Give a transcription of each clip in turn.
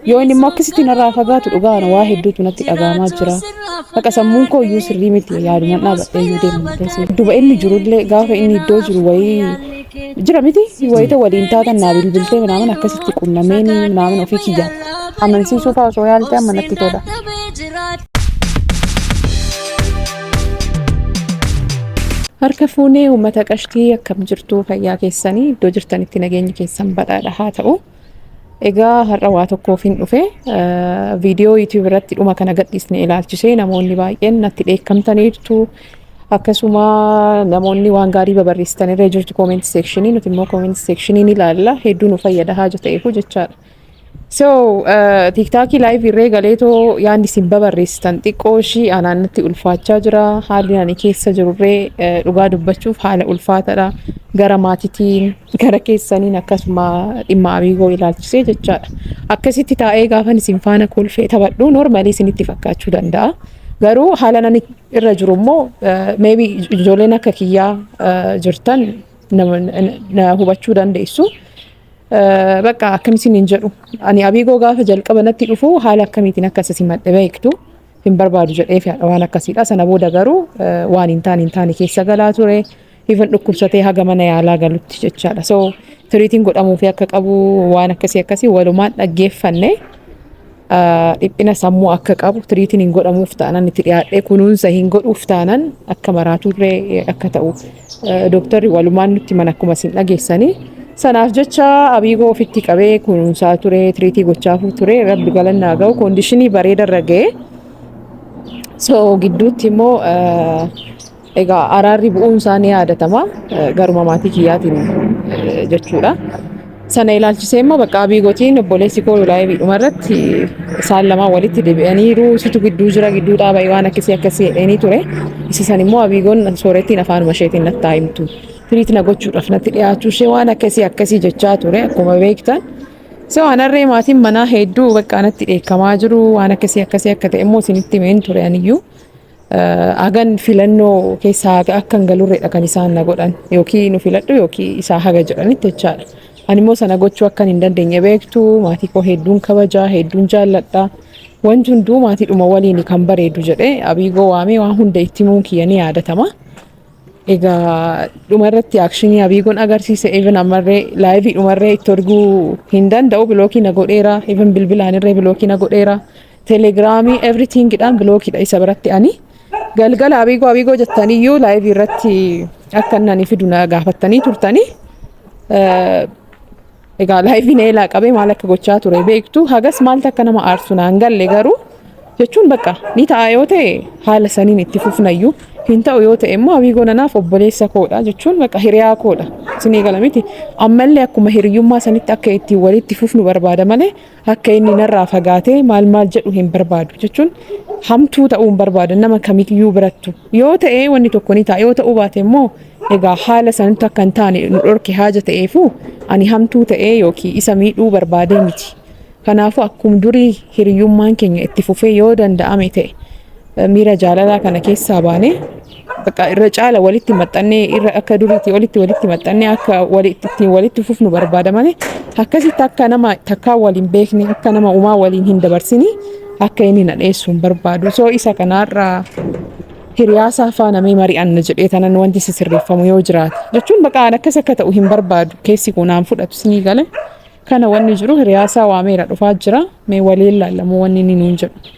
Yoo inni immoo akkasitti narraa fagaatu dhugaa ana waa hedduutu natti dhaga'amaa jira. Baqa sammuun koo iyyuu sirrii miti yaaduman dhaabadhee iyyuu deema malee si. Duba inni jirullee gaafa inni iddoo jiru wayii jira miti wayita waliin taatan naa bilbiltee minaamin akkasitti qunnameen minaamin ofii kiyyaa. Amansiisuu fa'aa osoo yaalte amma natti tola. Harka fuunee uummata qashtii akkam jirtu fayyaa keessanii iddoo jirtanitti nageenyi keessan badhaadha haa ta'u. Egaa har'a waa tokkoofin dhufe viidiyoo YouTube irratti dhuma kana gadhiisne ilaalchisee namoonni baay'een natti dheekkamtaniirtu. Akkasuma namoonni waan gaarii babarreessitan irra jirtu comment section nuti immoo comment section ni ilaalla hedduu nu fayyada haaja ta'eefu jechaadha. So tiktaakii live irree galeetoo yaanni isin babarreessitan xiqqoo ishii anaan natti ulfaachaa jira haalli ani keessa jirurree dhugaa dubbachuuf haala ulfaatadha gara maatitiin Gara keessaniin akkasuma dhimma Amiigoo ilaalchisee jechaadha. Akkasitti taa'ee gaafan isin faana kolfee taphadhu noormaalii isinitti fakkaachuu danda'a. Garuu haala nani irra jiru immoo meebi ijoolleen akka kiyyaa jirtan na hubachuu dandeessu. Bakka akkam isin hin jedhu. Ani Amiigoo gaafa jalqaba natti dhufu haala akkamiitiin akka isin madde beektu hin barbaadu jedhee waan akkasiidha. Sana booda garuu waan hin taane hin taane keessa galaa ture. even dhukkubsatee haga mana yaalaa galutti jechaadha. So tiriitiin godhamuufi akka qabu waan akkasii akkasii walumaan dhaggeeffanne ah, dhiphina sammuu akka qabu tiriitiin hin godhamuuf taanan itti dhiyaadhee kunuunsa hin godhuuf taanan akka maraaturree eh, akka ta'u eh, dooktarri walumaan nutti mana akkuma isin dhageessanii sanaaf jecha abiigoo ofitti qabee kunuunsaa ture tiriitii gochaafuu ture rabbi galanni haa ga'u koondishinii bareedarra ga'e so gidduutti immoo eh, Egaa araarri bu'uun isaa ni yaadatama garuma maatii kiyyaatiin jechuudha. Sana ilaalchisee immoo bakka abii gotiin obboleessi koo laayivii dhuma irratti isaan lamaan walitti deebi'aniiru situ gidduu jira gidduu dhaaba'e waan akkasii akkasii jedheenii ture. Isa san immoo abiigoon soorettiin afaanuma isheetiin nattaa himtu. Tiriit na gochuudhaaf natti dhiyaachuu ishee waan akkasii akkasii jechaa ture akkuma beektan. So anarree maatiin manaa hedduu bakka anatti dheekkamaa jiru waan akkasii akkasii akka ta'e immoo isinitti himeen ture aniyyuu. Hagan filannoo keessaa akka hin galurreedha kan isaan na godhan yookiin nu filadhu yookiin isaa haga jedhanitti jechaadha. Ani immoo sana gochuu akkan hin dandeenye beektu maatii koo hedduun kabajaa hedduun jaalladha. Wanti hunduu maatiidhuma waliin kan bareedu jedhee abiigoo waamee waan hunda itti himuun kiyya ni yaadatama. Egaa dhuma irratti akshinii abiigoon agarsiise even ammarree laayivii dhumarree itti erguu hin danda'u bilookii na godheera even bilbilaan irree bilookii na godheera. Telegiraamii everything dhaan bilookidha isa biratti ani. Galgala abiigoo abiigoo jettanii iyyuu laayivii irratti akka inni ani fidu na gaafattanii turtanii. Eh, Egaa laayiviin eelaa qabee maal akka gochaa ture beektu hagas maaltu akka nama aarsu naan galle garuu jechuun bakka ni ta'a yoo ta'e haala saniin itti fufnayyuu hin ta'u yoo ta'e immoo abiigoo nanaaf obboleessa koodha jechuun bakka hiriyaa koodha isinii gala miti ammallee akkuma hiriyummaa sanitti akka ittiin walitti fufnu barbaada malee Akka inni narraa fagaatee maal maal jedhu hin barbaadu. Jechuun hamtuu ta'uu hin barbaadan nama kamiyyuu birattu. Yoo ta'ee wanni tokko ni ta'a. Yoo ta'uu baate immoo egaa haala sanatti akka hin taane nu dhorke haaja ta'eefuu ani hamtuu ta'ee yookiin isa miidhuu barbaadee miti. Kanaafuu akkum durii hiriyummaan keenya itti fufee yoo danda'ame ta'e miira jaalalaa kana keessaa baanee Bakka irra caala walitti maxxannee irra akka duriitti olitti walitti maxxannee akka walitti ittiin walitti fufnu barbaada malee akkasitti akka nama takkaa waliin beekne akka nama umaa waliin hin dabarsini akka inni na dheessu hin barbaadu. So isa kanaarra hiriyaasaa faana mee mari'anna jedhee tanan wanti si sirreeffamu yoo jiraate. Jechuun bakka aan akkas akka ta'u hin barbaadu keessi kun aan fudhatu sinii gale. Kana wanni jiru hiriyaasaa waameera dhufaa jira mee waliin laallamu wanni inni nuun jedhu.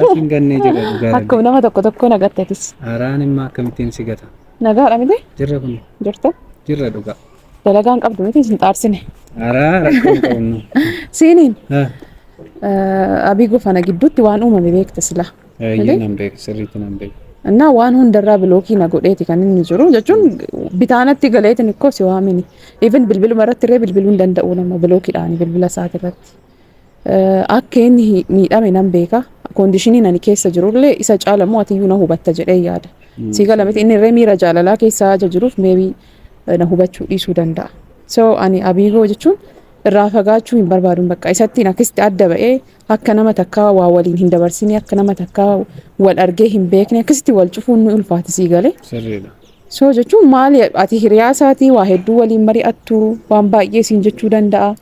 Lafin gannee jedha dhugaa rabbi. Akkuma nama tokko tokko nagattatis. Araan immaa akkamittiin si gata. Nagaadha miti? Jirra kun Jirtu? jirra dhugaa. Dalagaan qabdu miti isin xaarsine. Araa rakkoo hin qabnu. Siiniin Ha, abii gofana gidduutti waan uumame beekta sila. Eeyyee nan beeku sirriitti nan beeku. Innaa waan hundarraa bilookii na godheeti kan inni jiru jechuun bitaanatti galeetiin ikkoo si waamini. Even bilbiluma irratti illee bilbiluu hin danda'u nama bilookiidhaan bilbila isaati irratti. akka inni miidhame nan beeka. Koondishiniin ani keessa jirullee isa caala immoo atiyyuu na hubatta jedhee yaada. Sii gala miti inni irree miira jaalalaa keessa haja jiruuf meebii na hubachuu dhiisuu danda'a. So ani abiigoo jechuun irraa fagaachuu hin barbaadun bakka isattiin akkasitti adda ba'ee akka nama takkaa waa waliin hin dabarsinee akka nama takkaa wal argee hin beekne akkasitti wal cufuun ni ulfaata sii galee. Sirriidha. So jechuun maali ati hiriyaa isaatii waa hedduu waliin mari'attu waan baay'ee siin jechuu danda'a.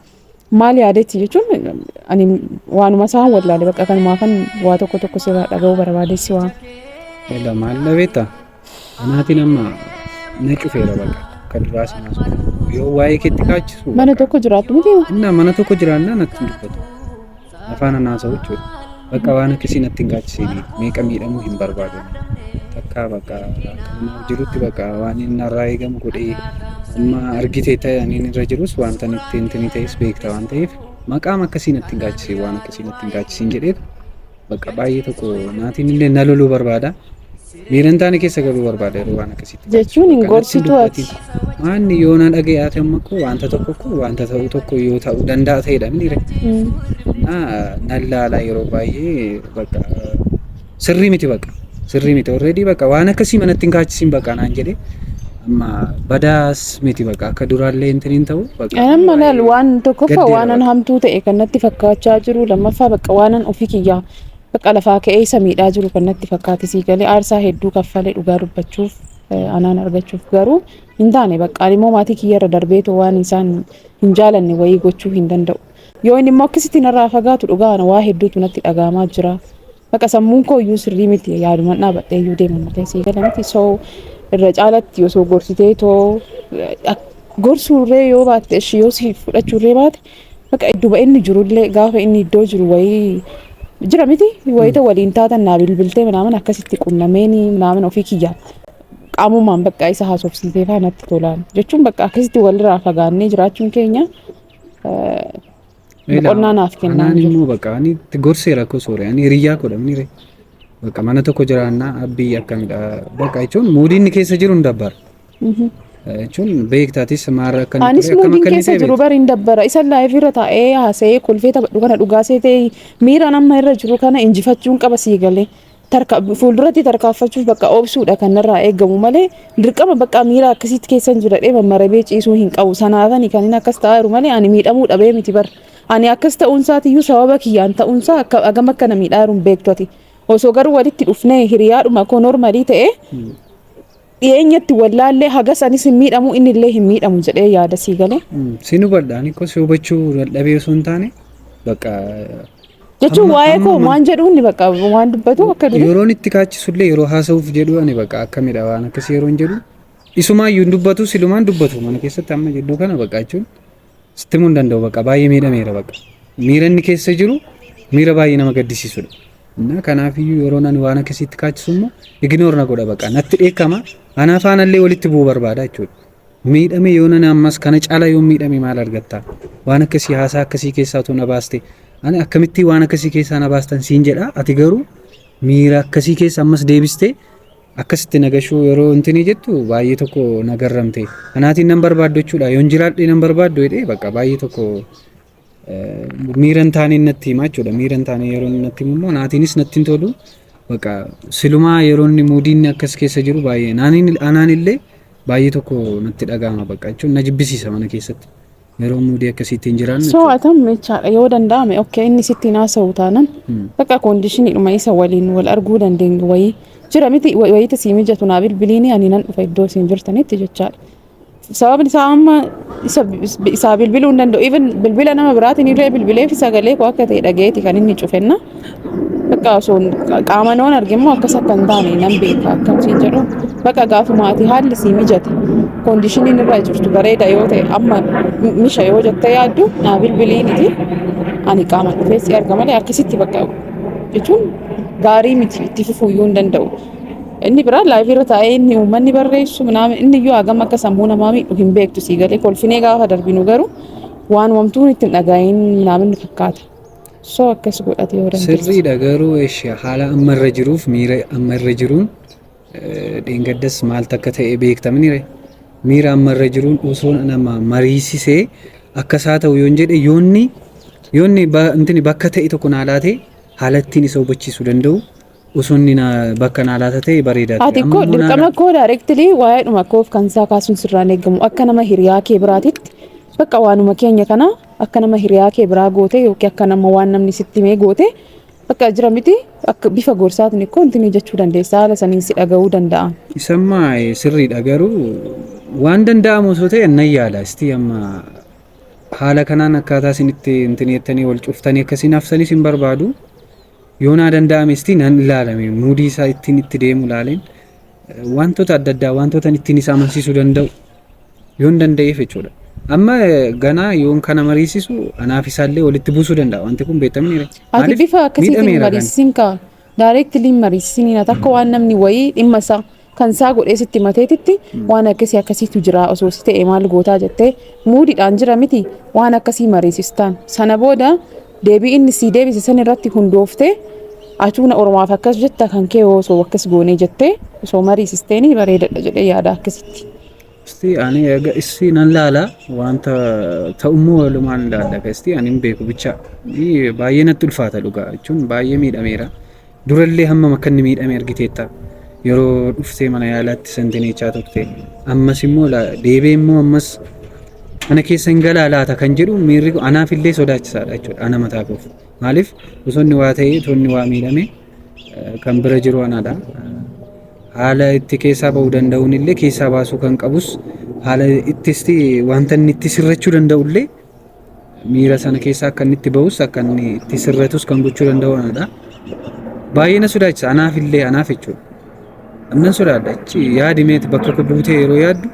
Maal yaadetti jechuun ani waanuma isaan wallaale bakka kanumaa kan waa tokko tokko sirraa dhaga'uu barbaadessi waan. Egaa maal dhabeetta? Anaatiin amma na cufeera bakka kan duraa sanaa sun. Yoo waa'ee keetti kaachisu. Mana tokko jiraattu miti. Innaa mana tokko jiraannaa natti hin dubbatu. Nafaan hin haasa'u jechuudha. Bakka waan akkasii natti hin gaachisiin meeqa miidhamuu hin barbaadu. Takkaa bakka kanumaaf jirutti bakka waan inni narraa eegamu godhee amma argite ta'e ani irra jirus wanta itti hintinii ta'es beekta waan ta'eef maqaam akkasii natti hin gaachisiin waan akkasii natti hin gaachisiin jedheef bakka baay'ee tokko naatiin illee na loluu barbaada. Miiran taane keessa galuu barbaada yeroo waan akkasitti. Jechuun hin gorsitu ati. Maanni yoo na dhaga'e ati amma koo wanta tokko koo wanta ta'u tokko yoo ta'u danda'a ta'edha miire. Nan laala yeroo baay'ee bakka sirrii miti bakka sirrii miti already bakka waan akkasii manatti hin kaachisin bakka naan jedhee amma badaas miti bakka akka duraallee hin tiniin ta'u bakka. Amma laal waan tokkoffaa waanan hamtuu ta'e kan natti fakkaachaa jiru lammaffaa bakka waanan ofii kiyyaa Bakka lafaa ka'ee isa miidhaa jiru kan natti fakkaate sii galee aarsaa hedduu kaffale dhugaa dubbachuuf anaan argachuuf garuu hin taane bakka ani immoo maatii kiyyarra darbeetoo waan isaan hin jaalanne wayii gochuu hin danda'u. Yoo inni immoo akkasitti narraa fagaatu dhugaa ana waa hedduutu natti dhaga'amaa jira. Bakka sammuun koo iyyuu sirrii miti yaaduman dhaabadhee iyyuu deema malee sii gala miti so irra caalatti osoo gorsitee too gorsuurree yoo baatte ishii yoo si fudhachuurree baate Bakka idduma inni jirullee gaafa inni iddoo jiru wayii jira miti wayita waliin taatan naa bilbiltee minaaman akkasitti qunnameeni minaaman ofii kiyya qaamumaan bakka isa haasofsiisee faa natti tolaan jechuun bakka akkasitti walirraa fagaannee jiraachuun keenya boqonnaa naaf kennaa Anaan jiru. immoo bakka ani itti gorsee rakkoo soore ani hiriyyaa koo dhabni ree. Bakka mana tokko jiraannaa abbii akkamidha bakka jechuun muudii inni keessa jiru hin dabbara. jechuun beektaatis maarra akka inni Anis ture akkam muudiin akka inni keessa ta'e jiru beekta. bariin dabbara. Isa laayif irra taa'ee haasa'ee kolfee taphadhu kana dhugaa seetee miiraan amma irra jiru kana injifachuun qaba sii galee. Tarka, fuulduratti tarkaanfachuuf bakka obsuudha kan narraa eegamu malee dirqama bakka miira akkasitti keessan jiradhee mammarabee ciisuu hin qabu. Sanaafani kan inni akkas ta'aa jiru malee ani miidhamuu dhabee miti bar. Ani akkas ta'uun isaatiyyuu sababa kiyyaan ta'uun isaa akka agam akka na miidhaa jiru hin beektu ati. Osoo garuu walitti dhufnee hiriyaadhuma koo normalii ta'ee Dhiyeenyatti wallaallee hagas anis hin miidhamu inni illee hin miidhamu jedhee yaada sii galee. Siin hubadha ani kos hubachuu dadhabee osoo hin taane bakka Jechuun Amma- waa'ee koo amma- waan jedhu inni bakka waan dubbatu akka durii. yeroon itti kaachisullee yeroo haasa'uuf jedhu ani bakka akkamidha waan akkasii yeroon jedhu isumaan iyyuu hin dubbatu silumaan dubbatu mana keessatti amma jedhu kana bakka jechuun sitti himuu hin danda'u bakka baay'ee miidhameera bakka miira inni keessa jiru miira baay'ee nama gaddisiisudha. Innaa kanaafiyyuu yeroo nani waan akkasiitti kaachisu immoo iginoor na godha bakka natti dheekkama anaa faanallee walitti bu'uu barbaada jechuudha. Miidhame yoo nani ammas kana caala yoo miidhame maal argatta waan akkasii haasaa akkasii keessaa utuu na baaste ani akkamittii waan akkasii keessaa na baastan siin jedha ati garuu miira akkasii keessa ammas deebistee Akkasitti nagashuu yeroo intinii jettu baay'ee tokko nagarramte. Anaatiin nan barbaaddu jechuudha. Yoon jiraadhee nan barbaaddu jedhee bakka baay'ee tokko miira hin taaneen natti hima jechuudha. Miira hin taaneen yeroo inni natti himu immoo naatiinis natti hin tolu. Bakka silumaa yeroo inni muudiin akkas keessa jiru baay'ee anaan illee baay'ee tokko natti dhaga'ama bakka jechuun na jibbisiisa mana keessatti. Yeroo muudii akkasii ittiin jiraannu jechuudha. So'atam jechaadha yoo danda'ame okkee inni sitti hin haasa'u taanan bakka koondishiniidhuma isa waliin wal arguu dandeenyu wayii jira miti wa- wayiita sii mijatu naa bilbiliini ani nan dhufa iddoo isin jirtanitti jechaadha. Sababni isaa amma isa isaa bilbiluu hin danda'u even bilbila nama biraatiin illee bilbileefi sagalee koo akka ta'e dhaga'eeti kan inni cufenna. Bakka osoo qaamaan waan arge immoo akkas akka hin taane nan beeka akkan siin jedhu bakka gaafuma ati haalli sii mijate koondishiniin irra jirtu bareeda yoo ta'e amma misha yoo jettee yaaddu naa bilbiliiniti ani qaama dhufee si arga malee akkasitti bakka jechuun gaarii miti itti fufuu iyyuu hin danda'u. Inni biraa laayivii irra taa'ee inni uummanni barreessu minaamin inni iyyuu hagam akka sammuu namaa miidhu hin beektu sii galee kolfinee gaafa darbinu garuu waan wamtuu itti hin dhaga'iin minaamin fakkaata. So akkas godhate yoo dandeesse. Sirriidha garuu eshi haala amma irra jiruuf miira amma irra jiruun eh, dheengaddas maal takka ta'e beektamnire miira amma irra jiruun osoo nama mariisisee akka isaa ta'u yoon jedhe yoonni yoonni ba- intini bakka ta'e tokko naa laate haala ittiin isa hubachiisuu danda'u Osoo inni na bakka naa laata ta'e bareedaa ture. Ati Amma koo immoo naa dirqama koo directly waa'eedhuma koof kan isaa kaasuun sirraan eegamu akka nama hiriyaa kee biraatitti bakka waanuma keenya kana akka nama hiriyaa kee biraa goote yookiin akka nama waan namni sitti himee goote bakka jira miti akka bifa gorsaatiin ikkoo intinii jechuu dandeessa haala saniin si dhaga'uu danda'a. Isamma eh, sirriidha garuu waan danda'amu osoo ta'e nan yaala. Istii amma haala kanaan akkaataa isin itti intineettanii wal cuftanii akkasiin haftanis hin barbaadu. Yoo naa danda'ame isti nan ilaalame muudii isaa ittiin itti deemu ilaaleen wantoota adda addaa wantoota ittiin isa amansiisuu danda'u yoon danda'eef jechuudha. Amma ganaa yoon kana mariisisu anaaf isaallee walitti buusuu danda'a wanti kun beektamni. Ati bifa akkasiitiin mariisisin kaa daayireektilii mariisisin hin takka waan namni wayii dhimma isaa kan isaa godhee sitti mateetitti waan akkasii akkasiitu jira osoo si ta'e maal gootaa jettee muudiidhaan jira miti waan akkasii mariisistaan sana booda deebii inni sii deebise san irratti hundooftee atuuna oromaaf akkas jetta kan kee osoo akkas goonee jettee osoo mariisisteeni bareedadha jedhee yaada akkasitti. Isti ani egaa issi nan laala wanta ta'ummoo walumaan laalla egaa isti ani hin beeku bicha baay'ee natti ulfaata dhugaa jechuun baay'ee miidhameera durallee hammam akka inni miidhame argiteetta yeroo dhuftee mana yaalaatti santineechaa turte ammas immoo deebee immoo ammas mana keessa hin galaa laata kan jedhu miirri anaaf illee sodaachisaadha jechuudha ana mataa koof maaliif osoo inni waa ta'ee osoo inni waa miidhame kan bira jiru anaadha. Haala itti keessaa ba'uu danda'uun illee keessaa baasuu kan qabus haala ittis wanta inni itti sirrachuu danda'u illee miira sana keessaa akka inni itti ba'us akka inni itti sirratus kan gochuu danda'u anaadha. Baay'ee na sodaachisa anaaf illee anaaf jechuudha. Nan sodaadha achi yaadi meeti bakka koo buutee yeroo yaaddu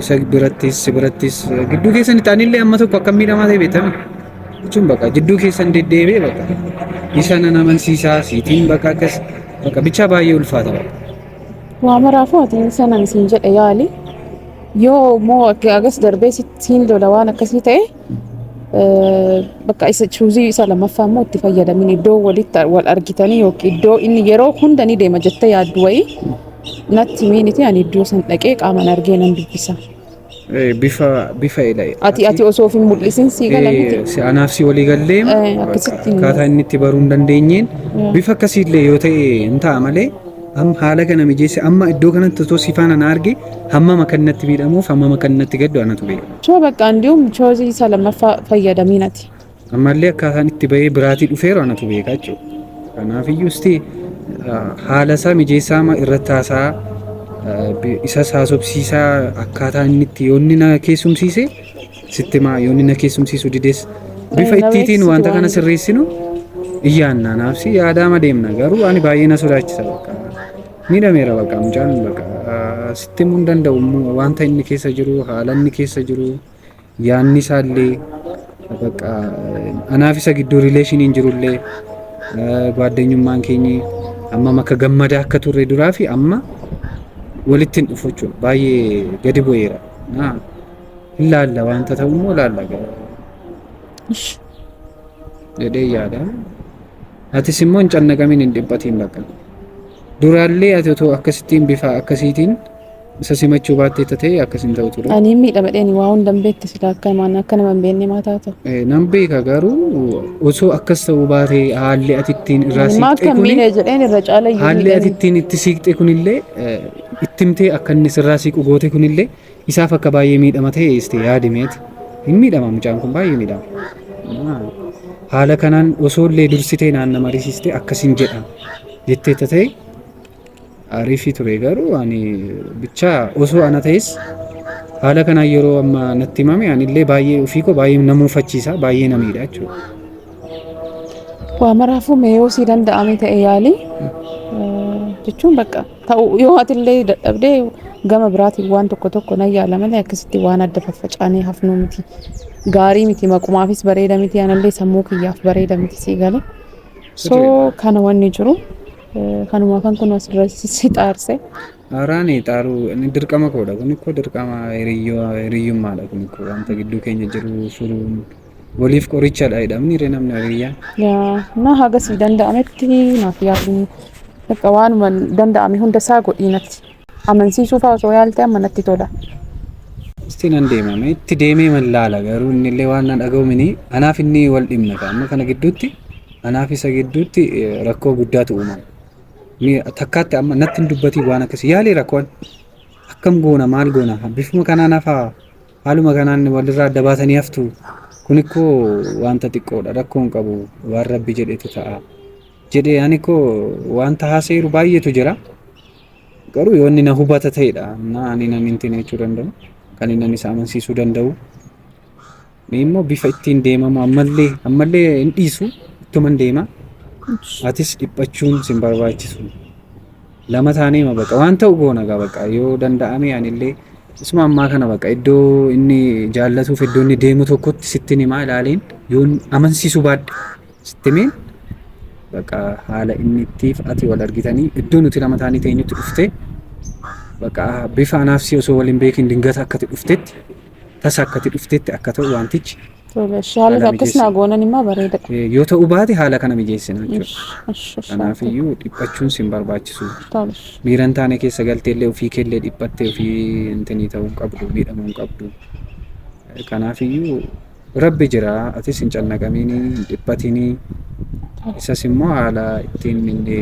isa birattis si birattis gidduu keessan itti anillee amma tokko akka miidhamaa ta'e beekame jechuun bakka gidduu keessan deddeebi'ee bakka isa nan amansiisaa siitiin bakka akkas bakka bichaa baay'ee ulfaata bakka. Waa maraafuu ati sanan siin jedhe yaali. Yoo immoo akka agas darbee siin lola waan akkasii ta'e bakka isa chuuzii isa lammaffaa immoo itti fayyadamin iddoo walitti wal argitanii yookiin iddoo inni yeroo hunda ni deema jettee yaaddu wayii natti miiniti ani iddoo san dhaqee qaaman argee nan dubbisa. Eh, bifa bifa ila Ati ati osoo of hin mul'isin sii gala miti. Eh, si anaaf si walii gallee Eh, akkasitti hin- akkaataa inni itti baruu hin dandeenyeen bifa akkasiillee yoo ta'e hin ta'a malee am- haala kana mijeesse amma iddoo kanatti osoo si faana na arge hammam akka inni natti miidhamuuf hammam akka inni natti gaddu anatu beeka. Choo bakka andium choosii isa lammaffaa fayyadamiin ati. Ammallee akkaataan itti bahee biraatii dhufeeru anatu beeka jechuudha. Kanaaf iyyuu isti haala isaa mijeessaa amma irratti haasaa isas haasofsiisaa akkaataa inni itti yoonni na keessumsiise sitti maa yoonni na keessumsiisu dides bifa ittiitiin wanta kana sirreessinu iyyaannaa naafsi yaadaama deemna garuu ani baay'ee na sodaachisa bakka Miidhameera bakka mucaan bakka sitti himuu hin danda'u immoo wanta inni keessa jiru haala inni keessa jiru yaanni isaa illee bakka anaaf isa gidduu rileeshiniin jiru illee gaaddeenyummaan keenyi ammam akka gammadaa akka turre duraa fi amma walitti hin dhufu jechuudha baay'ee gadi bu'eera. Naa, Hin laalla wanta ta'u immoo laalla jedhee yaada. Atis immoo hin cannaqamin hin dhiphatiin bakka. Duraallee ati otoo akkasittiin bifa akkasiitiin isa simachuu baattee tatee akkas hin ta'u ture. Ani miidhamadheen waa hunda hin beektu sila akka maan akka nama hin beekne maa taatu. Eh, Nan beeka garuu osoo akkas ta'uu baatee haalli ati ittiin irraa Ani maa siiqxee akka kuni miidhe jedheen irra caala iyyuu haalli ati miidhanii. ittiin itti siiqxee kunillee eh, itti himtee akka inni sirraa siiqu goote kunillee Isaaf akka baay'ee miidhama ta'e isti yaadi meeti. Hin miidhama mucaan kun baay'ee miidhama. Haala kanaan osoo illee dursitee naanna marisiistee akkas hin jedha jettee ta'e ariifii ture garuu ani bichaa osoo ana ta'es haala kanaan yeroo amma natti himame ani illee baay'ee ofii koo baay'ee na muufachiisa baay'ee na miidha jechuudha. Waa maraafuu mee yoo sii danda'ame ta'e yaali jechuun bakka. ta'u yoo atillee dadhabde gama biraatiin waan tokko tokko nan yaala malee akkasitti waan adda faffacaanee hafnuu miti. Gaarii miti maqumaafis bareeda miti anallee sammuu kiyyaaf bareeda miti sii gale. So Sirriidha. kana wanni jiru eh, kanuma kan kun asirra si si xaarse. Haaraani xaaruu inni dirqama koodha kun ikkoo dirqama hiriyyoo hiriyyummaadha kun ikkoo wanta gidduu keenya jiru furuun Waliif qorichadha jedhamni ree namni hiriyyaan. Yaa, na haga sii danda'ametti naaf yaaduu. Bakka waanuma danda'ame hunda isaa godhii natti. Amansiisuu fa'aa osoo yaaltee amma natti tola. Itti nan deemame itti deemee man laala garuu inni illee waan na dhaga'u mini anaaf inni wal dhimna ta'a amma kana gidduutti anaaf isa gidduutti eh, rakkoo guddaatu uumama. Ni takkaatti amma natti hin dubbatii waan akkasii yaalee rakkoon akkam goona maal goona bifuma kanaan hafaa Haaluma kanaan walirraa adda baatanii haftu. Kun ikkoo wanta xiqqoodha rakkoo hin qabu waan rabbi jedhetu ta'a. Jedhee ani ikkoo wanta haasa'eeru baay'eetu jira. Garuu yoo inni na hubata ta'edha. Na ani nan hin tine jechuu danda'u. Kan inni isa amansiisuu danda'u. Ni immoo bifa ittiin deemamu ammallee ammallee hin dhiisu ittuman deema. Atis dhiphachuun sin barbaachisu. lama taanee ma baqa waan ta'u goona gaa baqa yoo danda'ame anillee isuma ammaa kana baqa iddoo inni jaallatuuf iddoo inni deemu tokkotti sittin himaa ilaaleen yoon amansiisu baadhe sittimeen baqa haala inni ittiif ati wal argitanii iddoo nuti lama taanii teenyutti dhufte baqa bifa anaaf si osoo waliin beekin dingata akkati dhuftetti tasa akkati dhuftetti akka ta'u waantichi Tole, ishee haala Haala akkas naa mijeessi. goonan immoo bareedadha. eh, yoo ta'uu baate haala kana mijeessina jechuudha. Ish, ish, ish, Kanaaf ati. iyyuu dhiphachuun sin barbaachisu. Tole, ish. Miira hin taane keessa galteellee ofii keellee dhiphattee ofii intinii ta'uu hin qabdu, miidhamuu hin qabdu. Eh, Kanaaf iyyuu rabbi jira atis hin cannaqamiinii, hin dhiphatinii. Isas immoo haala ittiin inni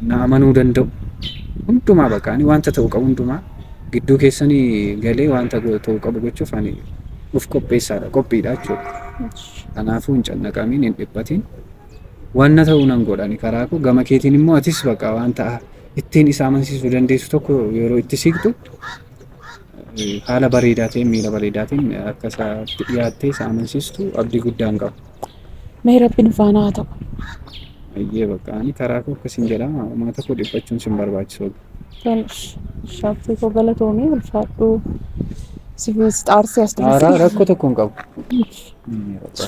na amanuu danda'u hundumaa bakka ani wanta ta'u qabu hundumaa Gidduu keessani galee wanta go- ta'u qabu gochuuf ani uf qopheessaadha, qophiidha jechuudha. Ishi. Kanaafuu hin cannaqamin, hin dhiphatin. Wanna ta'u nan godha ani karaa koo. Gama keetiin immoo atis baqa wanta ittiin isa amansiisuu dandeessu tokko yeroo itti siqxu eh, haala bareedaa ta'een, miira bareedaa ta'een akka isaatti dhiyaattee isa amansiistu abdii guddaan qaba. Mee rabbi nu faana haa ta'u. Ayyee bakka ani karaa koo akkasiin jedha uummata koo dhiphachuun sin barbaachisu. Tonish. Shaabbii koo galatoomii ulfaadhu. Sifiis xaarsi as Aaraa duratti. rakkoo tokko hin qabu.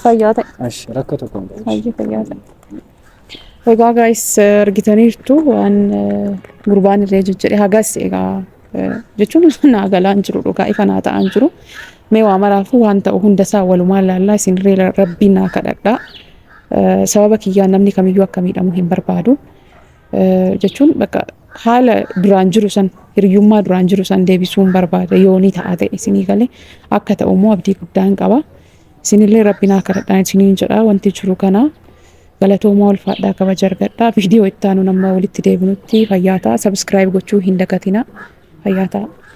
Fayyaa ta'e. Ash rakkoo tokko hin qabu. Fayyaa fayyaa ta'e. Egaa gaayis argitaniirtu waan gurbaan irree jijjire hagas egaa jechuun naa galaan jiru dhugaa ifa naa ta'an jiru. Mee waa maraafuu waan ta'u hundasaa walumaan laallaa isin irree rabbii naa kadhadhaa. Sababa kiyyaan namni kamiyyuu akka miidhamu hin barbaadu. Jechuun bakka haala duraan jiru san hiriyummaa duraan jiru san deebisuun barbaada yoonii ta'a ta'e isinii galee akka ta'u immoo abdii guddaan qaba. Isinillee Rabbi naa kadhadhaa isiniin jedhaa wanti jiru kanaa galatoomaa ulfaadhaa kabaja argadhaa video itti aanuun amma walitti deebinutti fayyaa ta'a subscribe gochuu hin dagatinaa fayyaa ta'a.